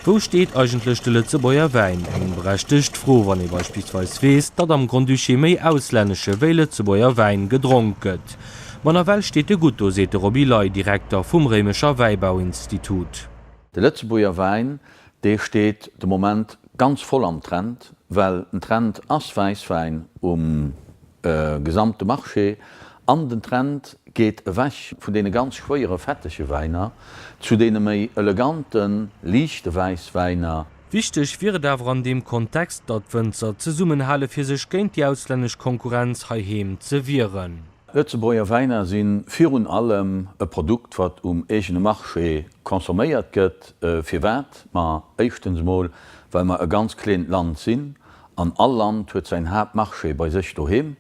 Wou steet eigentlech de Lëtzebuerger Wäin? Eng berechtegt Fro, wann ee beispillsweis weess, datt am Grand-Duché méi auslännesche wéi Lëtzebuerger Wäin gedronk gëtt. Ma nawell steet e gutt do, seet de Roby Ley, Direkter vum Réimecher Wäibauinstitut. De Lëtzebuerger Wäin, dee steet de Moment ganz voll am Trend, well den Trend ass Wäisswäin um. De gesamte Marché an den Trend geet ewech vun deene ganz schwéiere fettege Wäiner zu deene méi elegante liichte Wäisswäiner. Wichteg wier et awer an deem Kontext, datt d'Wënzer zesummenhale fir sech géint déi auslännesch Konkurrenz heiheem ze wieren. Lëtzebuerger Wäiner si virun allem e Produkt, wat um eegene Marché consomméiert gëtt. Firwat? Ma éischtens emol, well mer e ganz kleent Land sinn. An all Land huet säin Haaptmarché bei sech doheem.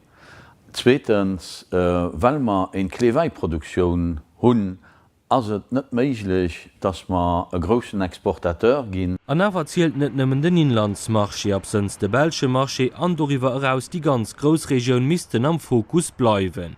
Zweetens, well mer een Kleewäiproduktioun hunn, ass et net méiglech, dass mer e groussen Exportateur ginn. An awer zielt net nëmmen den Inlandsmarché, absënns de belsche Marché an doriwwer eraus déi ganz Groussregioun missten am Fokus bleiwen.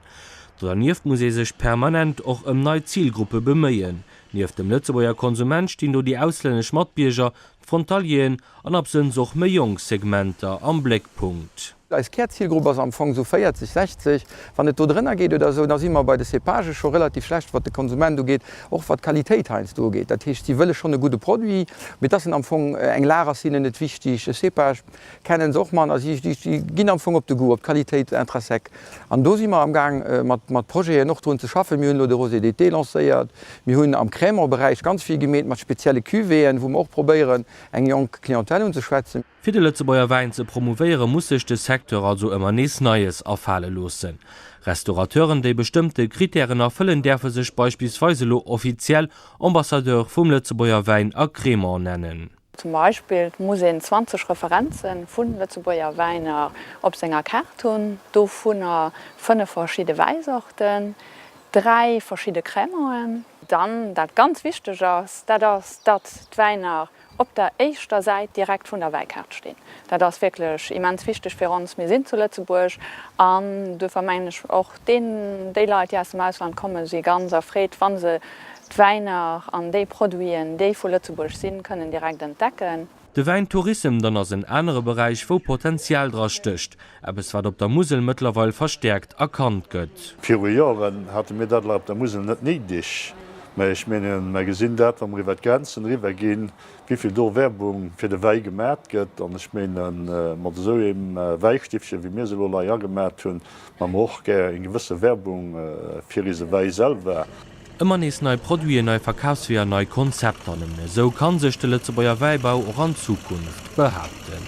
Dodernieft muss ee sech permanent och ëm nei Zilgruppe beméien. Nieft dem Lëtzebuerger Konsument stinn do déi auslännesch Matbierger, Frontalieren an absënns och méi jonk Segmenter am Bléckpunkt. Eis Kärzilgrupp ass am Fong esou 40, 60. Wann et do drënner geet oder esou, da si mer bei de Cépagen scho relativ schlecht, wat de Konsument ugeet, och wat d'Qualitéit heiansdo ugeet. Dat heescht, si wëlle schonn e gudde Produit, mee dass en am Fong eng lag ass hinnen net wichteg. E Cépage kenne se och manner, si ginn am Fong op de Goût, op d'Qualitéit intrinsèque. An do si mer amgaang mat Projeten och drun ze schaffen. Mir hunn elo de Rosé d'été lancéiert. Mir hunn am Crèmeberäich ganz vill gemeet mat spezielle Cuvéeën, wou mer och probéieren, eng jonk Clientèle unzeschwätzen. Fir de Lëtzebuerger Wäin ze promouvéieren, muss sech de Secteur also ëmmer nees Neies afale loossen. Restaurateuren, déi bestëmmte Krittären erfëllen, däerfe sech beispillsweis elo offiziell Ambassadeur vum Lëtzebuerger Wäin a Cremant nennen. Zum Beispill muss een 20 Referenze vu Lëtzebuerger Wäiner op senger Kaart hunn, dovunner 5 verschidde Wäissorten, 3 verschidde Crémauen. Dann, dat ganz wichteg ass, dat ass, datt d'Wäiner op der éischter Säit direkt vun der Wäikaart stinn. Dat ass wierklech immens wichteg fir ons. Mir sinn zu Lëtzebuerg an duerfir mengen ech och, Deen, déi Leit, déi aus dem Ausland kommen, si ganz erfreet, wa se d'Wäiner an déi Produiten, déi vu Lëtzebuerg sinn, kënnen direkt entdecken. De Wäintourissem dann ass en anere Beräich, wou Potenzial dra stécht, eppes, wat op der Musel mëttlerweil verstäerkt erkannt gëtt. Viru Joren hate mir dat lach op der Musel net néideg, mä ech mengen, mer gesinn dat, wa mer iwwert d'Grenzen eriwwer ginn, wivill do Werbung fir de Wäi gemat gëtt. An ech mengen, mat esou engem Wäistiffchen, wéi mir se elo lei agemat hunn, Mä mer och gär eng gewësse Werbung fir eise Wäi selwer. Ëmmer nees nei Produiten, nei Verkafsweeër, nei Konzepter, nëmmen esou ka sech de Lëtzebuerger Wäibau och an Zukunft behaapten.